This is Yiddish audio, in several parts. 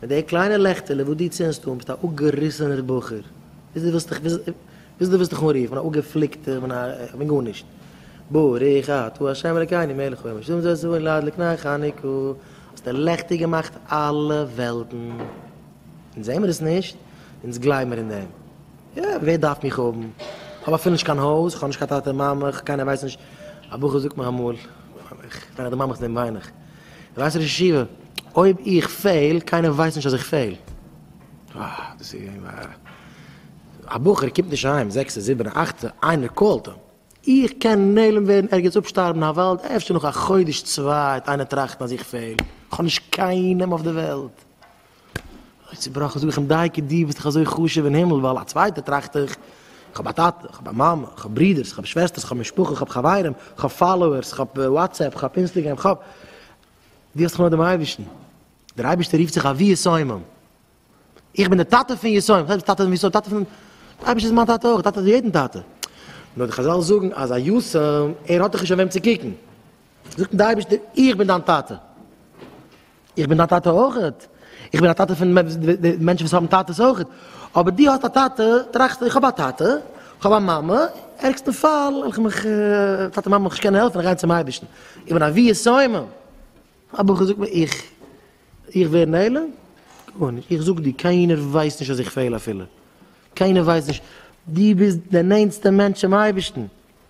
מיט די קליינע לעכטעלע וואס דו צינדסט אן ביסטו א אפגעריסענער בחור, ביז דו ווילסט דיך ביז דו ווילסט דיך אנרופן אן אפגעפליקטער מן א גארנישט. ברוך אתה ה' אלקינו מלך העולם השלום זה עשו ואני לעד לקנאי חניקו, האסט לעכטיג געמאכט אלע וועלטן. אונז זעהן מיר עס נישט, אונז גלייבן מיר אין דעם. יא, ווער דארף מיך האבן? איך האב אפילו נישט קיין הויז, איך האב נישט קיין טאטע מאמע, קיינער ווייסט נישט, א בחור זאגט מיר אמאל, ווען איך דערמאן מיך דעם וויין איך. ווייסט ראש ישיבה, אויב איך פעל, קיינער ווייסט נישט אז איך פעל. אה, דאס איז געווען א... א בחור קומט נישט אהיים, זעקסע, זיבענע, אכטע, איינער קאלט אים. איך קען נעלם ווערן, ערגעץ אפשטארבן אין א וואלד, אפשר נאך א חודש צוויי וועט איינער טראכטן אז איך פעל. איך האב נישט קיינעם אויף די וועלט. אוי צובראכן, זאג איך אים, דייקא דו ביסט דאך אזוי חשוב אין הימל, ווייל א צווייטער טראכט איך, איך האב א טאטע, איך האב א מאמע, איך האב ברודערס, איך האב שוועסטערס, איך האב משפחה, איך האב חברים, איך האב פאלאוערס, איך האב וואטסעפפ, איך האב אינסטעגרעם, איך האב. דו האסט דאך נאר דעם אייבערשטן. דער אייבערשטער רופט זיך אבי יסומים. איך בין דער טאטע פון יסומים, וואס הייסט טאטע פון יסומים? טאטע פון, דער אייבערשטער איז מיין טאטע אויך, טאטע פון יעדן טאטע. נאר די חזל זאגן אז א יסום, ער האט דאך נישט אויף וועם צו קוקן. זאגט אים דער אייבערשטער, איך בין דיין טאטע, איך בין דיין טאטע אויך, איך בין א טאטע פון מענטשן וואס האבן טאטעס אויך, אבער דו האסט א טאטע, טראכסט איך האב א טאטע, איך האב א מאמע, ערגסטן פאל וועל איך מיך, טאטע און מאמע וועל איך נישט קענען העלפן, גיין צום אייבערשטן, איך בין א ווי איז שמים, א בחור זאגט מיר איך, איך ווער נעלם, גארנישט, איך זאג דיר קיינער ווייסט נישט אז איך פעל אפילו, קיינער ווייסט נישט, דו ביסט דער נענטסטער מענטש צום אייבערשטן,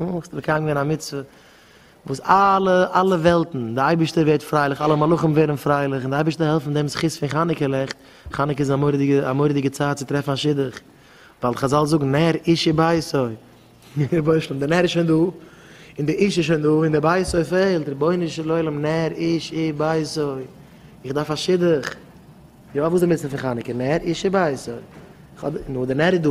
און האסט מקיים געווען א מצוה וואס אלע אלע וועלטן, די אייבערשטער ווערט פרייליך, אלע מלאכים ווערן פרייליך, און די אייבערשטער העלפן דעם זכות פון חנוכה לעכט, חנוכה איז א מורא'דיגע א מורא'דיגע צייט צו טרעפן א שידוך, ווייל חזל זאגן נר איש איז ביתו, רבונו של עולם דער נר איז שוין דא, און דער איש איז שוין דא, און דער ביתו פעלט, רבונו של עולם נר איש איז ביתו, איך דארף א שידוך, יא וואס איז די מצוה פון חנוכה, נר איש איז ביתו, נו דער נר איז דא.